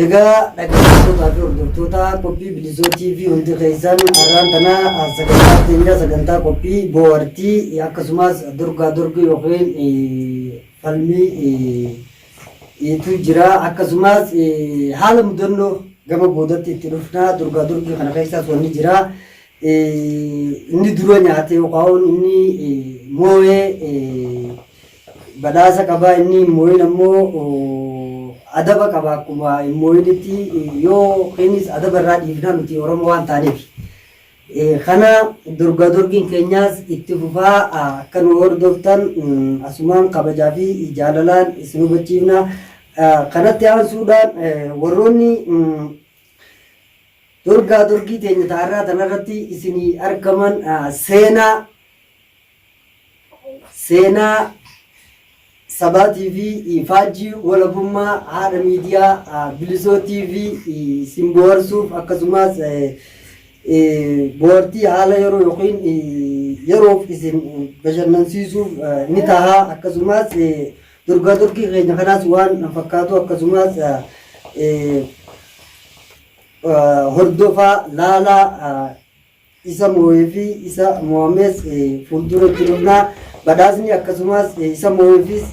Egaa dhaggeeffattootaa fi hordoftoota qophii Bilisoo TV hundi keessan har'aan tana sagantaa keenya sagantaa qophii boohartii akkasumas dorgaa dorgii yookiin falmii tu jira akkasumas haala mudannoo gama boodatti itti dhufna dorgaa dorgii kana keessaas wanni jira. Inni dura nyaate yookaan inni moo'e badhaasa qaba, inni hin moo'in ammoo adaba qaba akkuma hin moo'initti yookiinis adaba irraa dhiifna nuti Oromoo waan taaneef. Kana dorgaa dorgiin keenyaas itti fufaa akka nu hordoftan asumaan kabajaa fi jaalalaan isin hubachiifna. Kanatti aansuudhaan warroonni Dorgaa dorgii teenya ta arraa tana irratti isinii argaman seenaa seenaa sabaa TV faajjii walabummaa haadha miidiyaa bilisoo TV isin boharsuuf akkasumas bohartii haala yeroo yookiin yeroof isin bashannansiisuuf ni taha akkasumas Durgaa durgii keenya kanaas waan fakkaatu akkasumaas hordofaa laalaa isa moo'ee fi isa moo'amees fuuldura jirudha. Badhaasni akkasumaas isa moo'eefis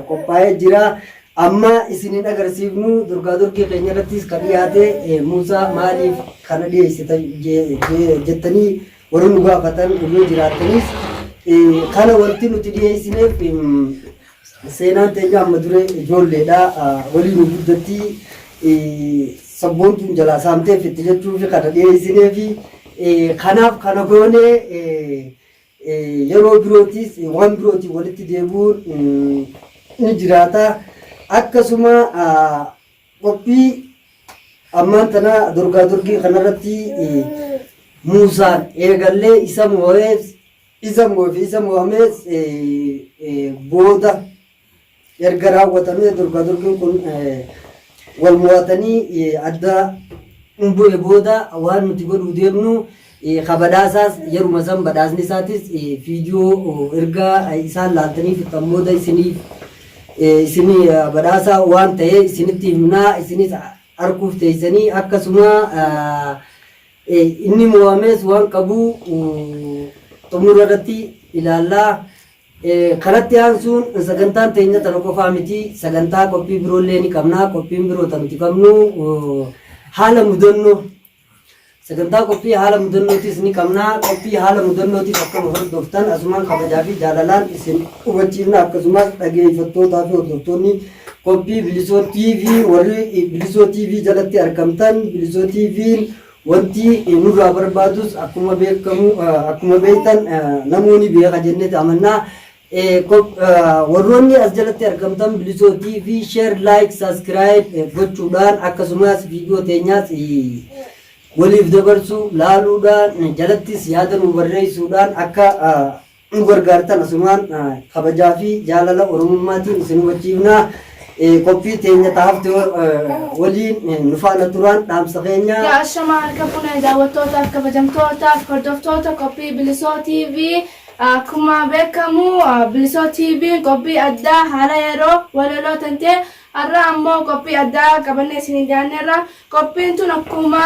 qophaa'ee jira. Amma isinin agarsiifnu durgaa durgii keenya irrattis kan dhiyaate Muusaa maaliif kana dhiyeessita jettanii Warri nu gaafatan yoo jiraattanis kana wanti nuti dhiyeessineef seenaan teenya amma duree ijoolleedha waliin nu guddatti sabboontuun jalaa saamteef itti jechuufi kana dhiyeessineefi kanaaf kana goone yeroo birootis waan birootiin walitti deebi'uun ni jiraata akkasuma Qophii ammaan tana dorgaa dorgii kanarratti muusaan eegallee isa moo'ees isa moo'eef isa moo'amees booda erga raawwatamee dorgaa dorgiin kun wal moo'atanii adda bu'e booda waan nuti godhuu deemnu ka badhaasaas yeruma san badhaasni isaatis viidiyoo erga isaan laaltanii fixxan booda isiniif isin badhaasa waan ta'e isinitti himnaa isinis arguuf teessanii akkasuma inni moo'amees waan qabu xumura irratti ilaallaa. Kanatti aansuun sagantaan teenya tana qofaa miti sagantaa qophii biroo illee ni qabna qophiin biroo ta nuti qabnu haala mudannoo Sagantaa qophii haala mudannootis ni qabna. Qophii haala mudannootiif akka nu hordoftan asumaan kabajaa fi jaalalaan isin hubachiifna. Akkasumas dhageeffattootaa fi hordoftoonni qophii Bilisoo TV warri Bilisoo TV jalatti argamtan Bilisoo TV'n wanti nurraa barbaadus akkuma beekamu akkuma beektan namoonni beeka jenneeti amannaa e Kop Warroonni as jalatti argamtan Bilisoo TV share like subscribe gochuudhaan akkasumas viidiyoo teenyaas waliif dabarsuu laaluudhaan jalattis yaada nuu barreessuudhaan akka nu gargaartan asumaan kabajaa fi jaalala oromummaatiin isin hubachiifna qophii teenya taafte waliin nu faana turaan dhaamsa keenya Yaa ashamaa harka fuunee daawwattootaaf kabajamtootaaf hordoftoota qophii Bilisoo TV Akkuma beekkamu Bilisoo TVn qophii addaa haala yeroo, walaloo tantee, arra ammoo qophii addaa qabannee isiniif dhiyaanneerra. Qophiin tun akkuma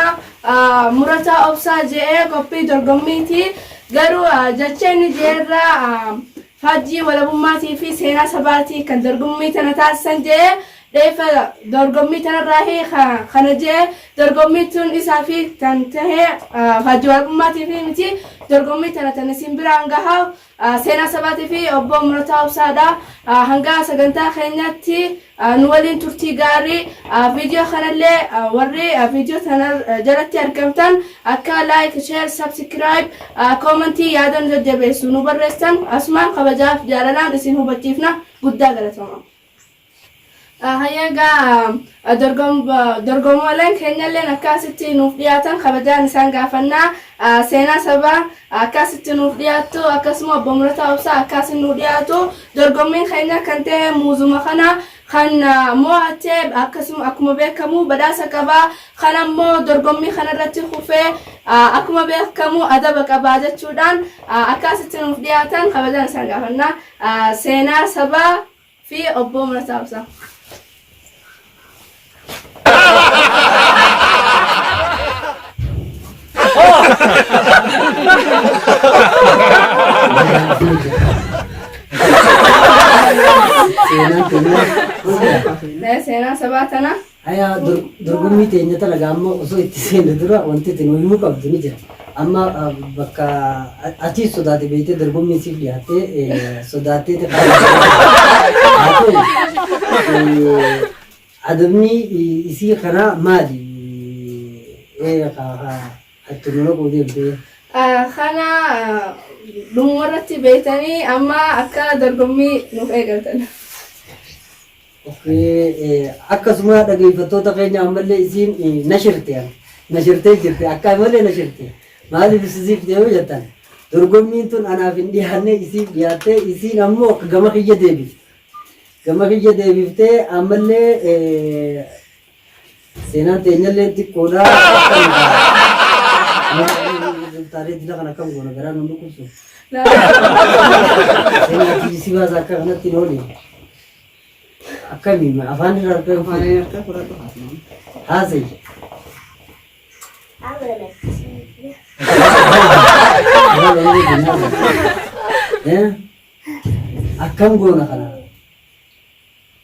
Murataa Obsaa je'e qophii dorgommiiti. Garuu jecha inni je'erra faajjii walabummaatii fi seenaa sabaatii kan dorgommii tana taasisan je'e. Reeffa dorgommii tanarraahi ka kana je'e dorgommiin tun isaafi tan tahe Haji Waaqummaatiifi miti dorgommii tana tan isin biraan gaha Seenaa Sabaatiifi Obboo Murataa Obsaadha hanga sagantaa keenyaatti nu waliin turtii gaarii video kanallee warri video tana jalatti argamtan akka like share subscribe comment yaada nu jajjabeessu nu barreessitan asumaan kabajaaf jaalalaan isin hubachiifna guddaa galatoomaa. Hayyee egaa dorgomooleen keenyalleen akkaasitti nuuf dhiyaatan kabajaan isaan gaafannaa. Seenaa sabaa akkaasitti nuuf dhiyaattu akkasuma obbo Mulataa Obsaa akkaasiin nuu dhiyaatu. Dorgommiin keenya kan ta'e muuzuma kana kan mo'ate akkasuma akkuma beekamu badhaasa qaba. Kan ammoo dorgommii kanarratti kufee akkuma beekamu adaba qaba jechuudhaan akkaasitti nuuf dhiyaatan kabajaan isaan gaafannaa. Seenaa sabaa. fi Obbo Murataa Obsaa. Seenaa sabaa tanaa. Aya dorgommii teenya tana gaa amma osoo itti seenne dura wanti itti nu himuu qabdu ni jira. Amma bakka atiis sodaate beektee dorgommiin siif dhiyaattee sodaattee adabni isii kanaa maali? Atti nu naquu deemtee. Kana dhumuma irratti beektanii amma akka dorgommii nuuf eegaltan. Akkasuma dhageeffattoota keenya ammallee isiin nashirte an nashirtee jirti akkaan malee nashirte maaliif isisiifte yoo jettan dorgommiin tun anaaf hin dhiyaanne isiif dhiyaattee isiin ammoo gama kiyya deebifte gama kiyya deebiftee ammallee Seenaan teenyallee xiqqoodha. Taatee jila kana akkam goona garaa nu dhukkubsu. Seenaa jibbisi baasa akka kanatti hin oole. Akkamiin afaan irraa argaa Afaan hin harka fudhadhu haasnaan. haasa'i. Akkam goona kana?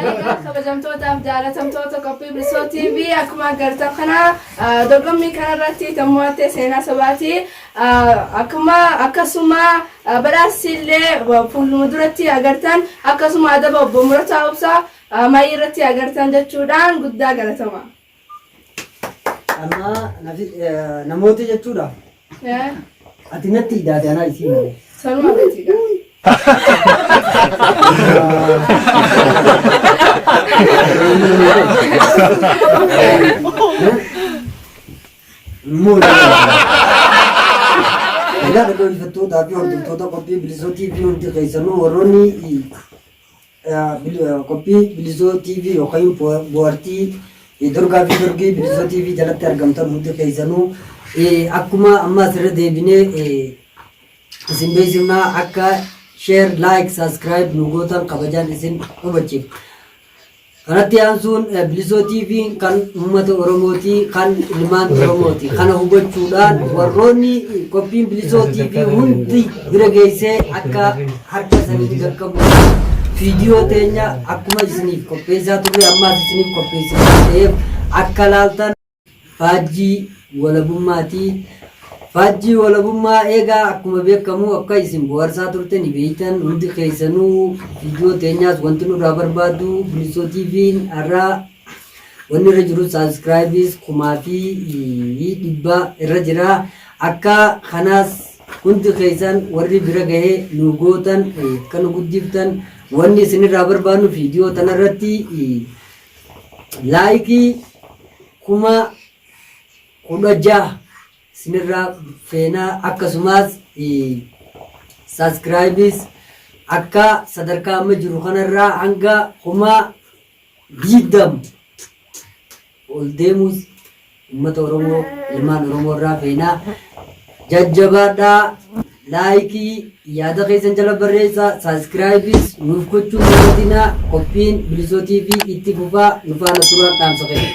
Egaa kabajamtootaaf jaalatamtoota qophii Bilisoo TV akkuma agartan kana dorgommii kanarratti kan mo'atte seenaa sabaati. Akkuma akkasuma badhaasni illee fuuldura duratti agartan akkasuma adaba obbo Murataa Obsaa maayii irratti agartan jechuudhaan guddaa galatama. Amma nafi- eh, namoota jechuudha. Eh, Ati natti idaate anaa isii malee. sanuma miti gaa. Immoo Egaa dhaggeeffattootaa fi hordoftoota qophii bilisootii fi hundi keessanuu warroonni Qophii Bilizoo TV yookiin Bohartii Dorgaa fi Dorgii Bilizoo TV jalatti argamtan hundi keessanuu akkuma ammaas irra deebinee isin beeksifnaa akka share, like, subscribe nu gootan kabajaan isin hubachiif. Kanatti aansuun Bilizoo TV kan uummata Oromooti, kan ilmaan Oromooti. Kana hubachuudhaan warroonni qophiin Bilizoo TV hundi bira geessee akka Harka isanitti gaggabuu viidiyoo teenya akkuma isiniif qopheessaa turre ammaas isiniif qopheessina waan ta'eef akka laaltan faajjii walabummaatii faajjii walabummaa eegaa akkuma beekamu akka isin bohaarsaa turte ni beektan hundi keessanuu viidiyoo teenyaas wanti nurraa barbaadu bilisoo tiiviin har'aa Wanni irra jiru subscribes kumaa fi dhibba irra jira. Akka kanaas hundi keessan warri bira gahe nu gootan akka nu guddiftan wanni isinirraa barbaannu viidiyoo tanarratti laayikii kuma kudha jaha isinirraa feenaa akkasumas subscribes akka sadarkaa amma jiru kanarraa hanga kuma 20 ol deemuus ummata oromoo ilmaan oromoo irraa feena jajjabaadhaa like yaada keessan jala barreessa subscribes nuuf gochuu hin dagatinaa qophiin bilisoo tv itti fufaa nu faana turaa dhaamsa keenya.